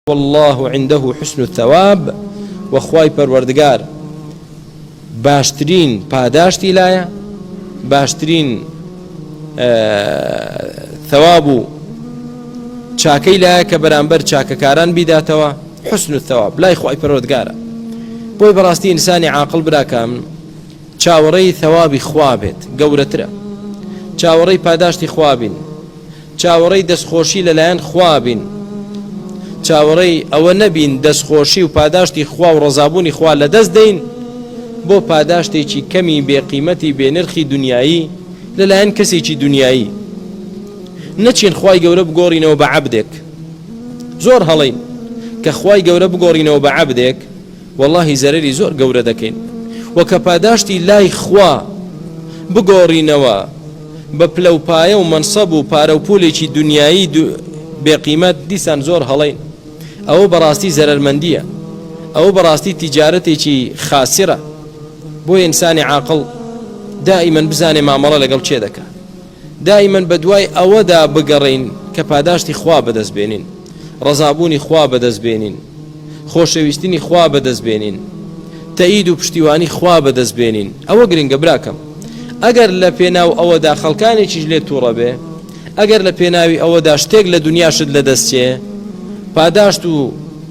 واللە عندە حسن الثواب وە خوای پەروەردگار باشترین پاداشتی لایە باشترین ثواب و چاکەی لایە کە بەرامبەر چاکەکاران بیداتەوە حسن و ثواب لای خوای پەرۆدگارە بۆی بەڕاستی ئینسانی عاقل براکەم چاوەڕێی ثوابی خوا بێت گەورەترە چاوەڕێی پاداشتی خوابین چاوەڕێی دەستخۆشی لەلایەن خوا بین، چاوەڕێی ئەوە نەبین دەستخۆشی و پاداشتی خوا و ڕەزابوونی خوا لەدەست دەین بۆ پاداشتێکی کەمی بێ قیمەتی بێ نرخی دونیایی لەلایەن کەسێکی دونیایی نەچین خوای گەورە بگۆڕینەوە بە عەبدێک زۆر هەڵەین کە خوای گەورە بگۆڕینەوە بە عەبدێک وەڵاهی زەرەری زۆر گەورە دەکەین و کە پاداشتی لای خوا بگۆڕینەوە بە پلە و پایە و مەنسەب و پارە و پولێکی دونیایی بێ قیمەت دیسان زۆر هەڵەین ئەوە بەڕاستی زەرەرمەندییە ئەوە بەڕاستی تیجارەتێکی خاسرە بۆیە ئینسانی عاقڵ دائیمەن بزانێ مامەڵە لەگەڵ کێ دەکا. دائیمەن بەدوای ئەوەدا بگەڕێین کە پاداشتی خوا بەدەست بێنین، ڕەزابوونی خوا بەدەست بێنین، خۆشەویستنی خوا بەدەست بێنین، تەئید و پشتیوانی خوا بەدەست بێنین. ئەوە گرنگە براکەم. ئەگەر لە پێناو ئەوەدا خەڵکانێکیش لێت توڕە بێ، ئەگەر لە پێناوی ئەوەدا شتێک لە دونیاشت لەدەست چێ، پاداشت و.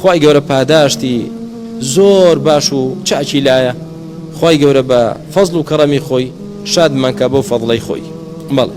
خوای گەورە پاداشتی زۆر باش و چاکی لایە خوای گەورە بە فەزڵ و کەڕەمی خۆی شادمانکا بەو فەزڵەی خۆی بەڵێ.